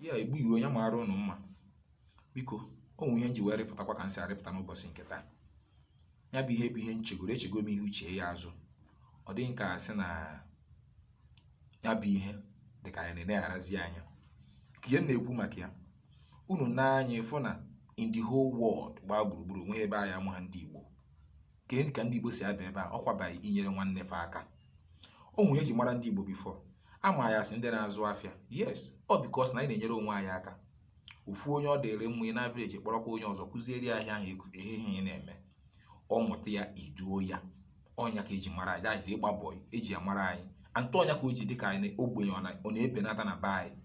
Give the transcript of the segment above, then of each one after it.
ya egbu iwe onye maara ụnụ mma biko o nwe ihe m ji wee rịpụtakwa ka m si arịpụta n'ụbọchị nke taa ya bụ ihe bụ ihe m chegoro echego m ihu chee ya azụ ọ dị ka a sị na ya bụ ihe dị ka anyị na-elegharazi anya ka anyị na-ekwu maka ya unu na anyị fụ na in the whole world gbaa gburugburu o nweghị ebe a ya-amaghị ndị Igbo ka e ka ndị Igbo si aba ụba ọ kwa by inyere nwanne fa aka o nwe ihe eji mara ndị Igbo before a ma anyị as ndị na-azụ afịa yes ọ because na anyị na-enyere onwe anyị aka ofu onye ọ dịrị mma in average kpọrọkwa onye ọzọ kụziere ya ahịa ahụ ihe ihe ị na-eme ọ mụta ya i duo ya ọ nya ka e ji mara anyị that is ịgba bọị eji ya mara anyị antụ ọ nya ka o ji dịka a sị ogbenye ọ na-ebenata na be anyị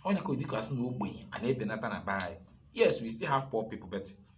ọ nya ka ọ dịka a sị na ogbenye a na-ebenata na be anyị yes we still have poor people but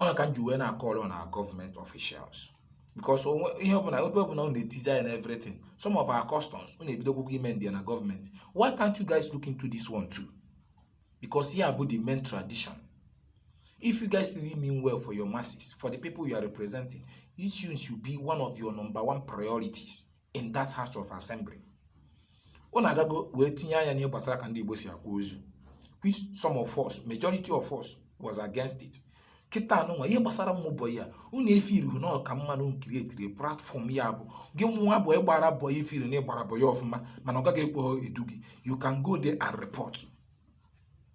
ọ ka m ji wee na-acall on our government officials because ihe ọbụla ebe ọbụla unu etinyezi anya na everything some of our customs unu ebidogo ime ndị na government why can't you guys look into this one too because ihe a bụ the main tradition if you guys really mean well for your masses for the people you are representing this one should be one of your number one priorities in that house of assembly unu agago wee tinye anya n'ihe gbasara ka ndị Igbo si akwa ozu which some of us majority of us was against it kịta nụnwa ihe gbasara ụmụ bọyị a unu efeelụhọ na ọ ka mma unu create platform ya bụ gị nwa bụ ị gbara bọyị i feelụ na ị gbara bọyị ọfụma mana ọga gị ekwehọ edu gị you can go there and report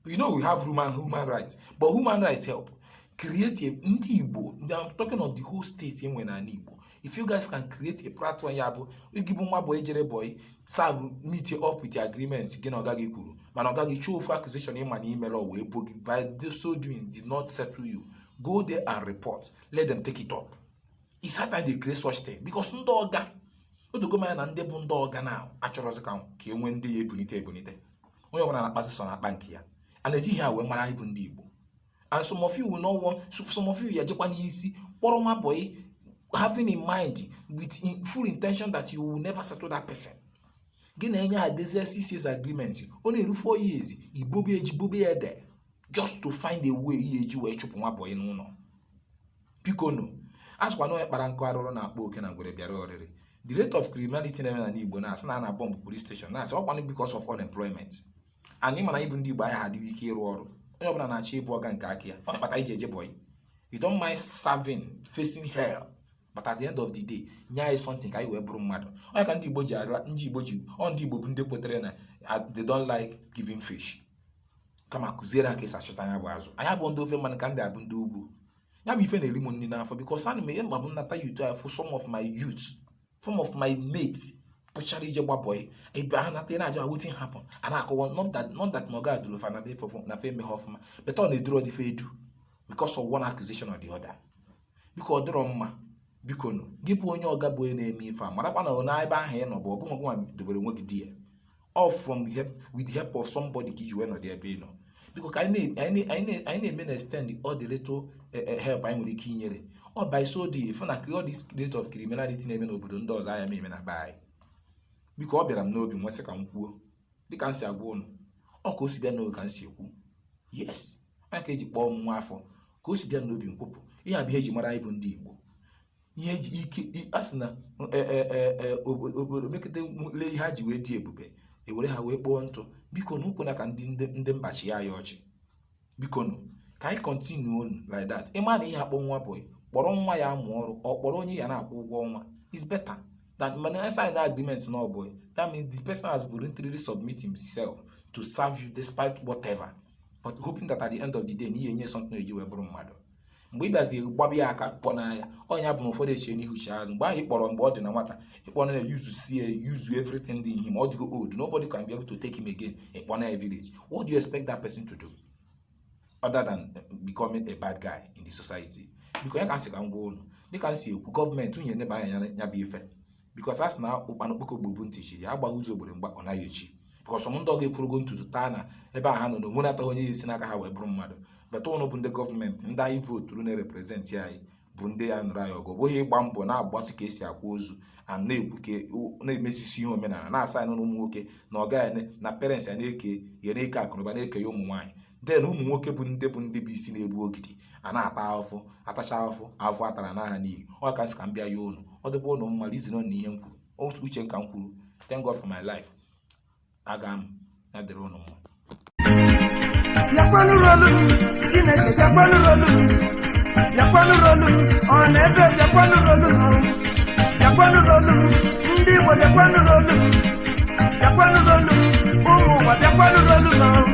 you know we have human human rights but human rights help create a ndị igbo ndị I'm talking of the whole states e nwe n'ala igbo if you guys can create a platform ya bụ gị bụ nwa boy jere boy serve meet up with the agreement gị na ọga gị kwuru mana ọga gị chọọ ofu accusation ị ma na i merọ o wee bo gị by so doing did not settle you go there and report let them take it up is high time they create such thing because ndị ọga o dogo m anya na ndị bụ ndị ọga na achọrọzi ka ka e nwee ndị ya ebunite ebunite onye ọbụla na-akpazi sọ n'akpa nke ya a na-eji ihe a wee mara anyị bụ ndị Igbo and some of you will not want some of you ya-ejekwa n'isi kpọrọ nwa boy having in mind with in full intention that you will never settle that person gị na onye edezie six years agreement ọ na-eru four years i bobe ya ji bobe ya ede just to find a way ị ya-eji wee chụpụ nwa boy n'ụlọ bikonu a sịkwa na onye kpara nkụ arụrụ na-akpọ oke na ngwere bịara oriri the rate of criminality na-eme n'ala Igbo na-asị na a na-abọmbụ police station na-asị ọ kwanụ because of unemployment and ị ma na anyị bụ ndị Igbo anyị ha adịghị ike ịrụ ọrụ onye ọbụla na-achọ ịbụ ọga nke aka ya ọ nya kpata i ji eje bọyị you don't mind serving facing hell but at the end of the day nye anyị something ka anyị wee bụrụ mmadụ ọ nya ka ndị Igbo ji ara ndị Igbo ji ọ ndị Igbo bụ ndị kwetere na they don't like giving fish kama kụziere ha ka esi achọta nya bụ azụ anya bụ ndị ofe mmanụ ka ndị a bụ ndị ugwu ya bụ ife na-eri m nri n'afọ because ana m ihe mgbe m nata yut afụ some of my youth some of my mates pụchara ije gba bọị ebe a nata na-ajụ wetin happen a na-akọwa not that not that ma ọga duru fa na be fa na fa emeghị ọfụma but ọ na-eduru ọdịfe edu because of one accusation or the other biko ọ dịrọ mma biko nụ gị bụ onye ọga bụ onye na-eme ife a marakwa na ọ na ebe ahụ ị nọ bụ ọ bụghị nwa dobere onwe gị there all from help with the help of somebody ka iji wee nọdụ ebe ị nọ biko ka anyị na- anyị na- anyị na- anyị na-eme na-extend all the little eh, eh, help anyị nwere ike inyere ọ by so doing ị fụ na all this rate of criminality na-eme n'obodo ndị ọzọ anya na-eme na be anyị biko ọ bịara m n'obi m wee sị ka m kwuo dịka m si agwa ụnụ ọ ka o si bịa n'obi ka m si ekwu yes ọ nya ka eji kpọọ m nwa afọ ka o si bịa n'obi m kwupụ ihe a bụ ihe eji mara anyị bụ ndị igbo ihe eji ike i- a sị na e, e, e, e, obo- obodo mekata lee ihe ha ji wee dị ebube ewere ha wee kpoo ntụ biko nụ ekwena ka ndị ndị ndị mba chịa anyị ọchị biko nụ ka anyị continue nụ like that ị ma na ị ya-akpọ nwa bọị ị kpọrọ nwa ya-amụ ọrụ ọ kpọrọ onye ị ya na-akwụ ụgwọ ọnwa is better than mana I sign agreement na ọ bọị that means the person has voluntarily submit himself to serve you despite whatever but hoping that at the end of the day na ị ya-enye something eji wee bụrụ mmadụ mgbe ị bịazi gbaba ya aka kpọnaa ya ọ nya bụ na ụfọdụ eche n'ihu chee azụ mgbe ahụ ị kpọrọ mgbe ọ dị na nwata ị kpọrọ ya yuzusie yuzu everything dị ihe ma ọ dịgo old nobody can be able to take him again ị kpọnaa ya village what do you expect that person to do other than eh, becoming a bad guy in the society because nya ka m sị ka m gwa ụnụ dịka m si ekwu gọọmenti unu ya-eneba anya nya bụ ife because a sị na ụkpana okpoko gburu bụ ntị chiri ya agbaghị ụzọ owere mgba ọ naghị echi because some ndị ọga ekwurugo n'ụtụtụ taa na ebe a ha nọ na o nwenataghị onye ya-esi n'aka ha wee bụrụ mmadụ but ụnụ bụ ndị gọọmenti ndị anyị vooturu na-ereprezentị anyị bụ ndị ya-anụrụ anyị ọgụ ọ bụghị ịgba mbọ na-agbatụ ka esi akwa ozu a na-ekwu ka a na-emezisi ihe omenala na-asa anyị n'ụmụ nwoke na ọ gaghị na parents ya na-eke ya na-eke akụnụba na-eke ya ụmụ nwaanyị then ụmụ nwoke bụ ndị bụ ndị bụ isi na-ebu ogidi a na-ata ahụfụ atacha ahụfụ ahụfụ atara anaa n'iyi ọ ka m sị ka m bịa ya ụnụ ọ dịkwa ụnụ mma reason na ihe m kwuru otu uche m ka m kwuru thank God for my life aga m ya dịrị ụnụ mma bịakwa nụrụ olu m chineke bịakwa nụrụ olu m bịakwa nụrụ olu m ọhanaeze bịakwa nụrụ olu m bịakwa nụrụ olu m ndị igbo bịakwa nụrụ olu m bịakwa nụrụ olu m ụmụ ụwa bịakwa nụrụ olu m